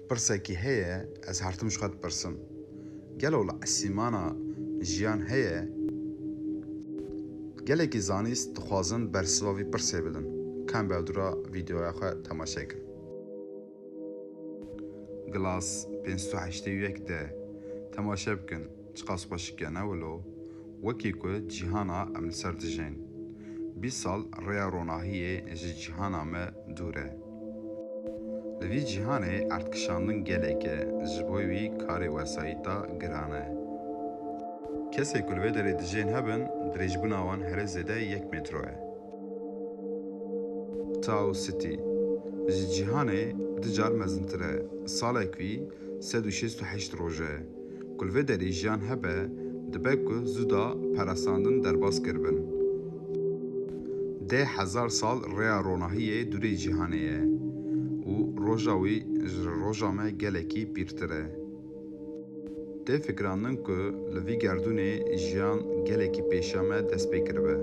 Pirsekî heye ez hertim ji xwe dipirsim, gelo li esîmana jiyan heye? Gelekî zanîst dixwazin bersiva vî pirsê bidin, kamber dûra vîdeoya xwe temaşe kin. Glass pênc sed û heştê û yek de temaşe bikin. Çiqas xwe şikene wilo, wekî ku cîhana em li ser dijîn. Bîst sal rêya ronahiyê ji cîhana me dûr e. Li vî cîhanê erdkişandin gelek e, ji bo wî karê wesayîta giran e. Kesên ku li vê derê dijîn hebin, dirêjbûna wan herê zêde yek mêtro e. Tau City, ji cîhanê du car mezintir e. Salek wî, sed û şêst û heşt roj e ku li vê derê jiyan hebe, dibe ku zuda parasandin derbas kiribin. Deh hezar sal rêya ronahiyê dûrê cîhanê ye û roja wî ji roja me gelekî pîrtir e. Tê fikirandin ku li vî gerdûnê jiyan gelekî pêşî me dest pê kiribe.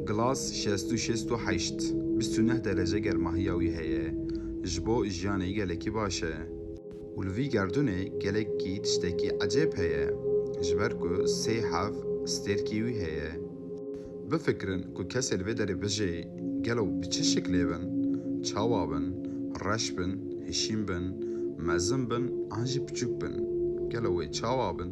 Glass şêst û şêst û heşt, bîst û neh derece germahiya wî heye, ji bo jiyanê gelekî baş e. Û li vî gerdûnê gelekî tiştekî ecêb heye, ji ber ku sê hev stêrkî wî heye. Bifikirin ku kesê li vê derê bijê, gelo bi çi şiklê bin, çawa bin, reş bin, hişîn bin, mezin bin an jî piçûk bin, gelo wê çawa bin?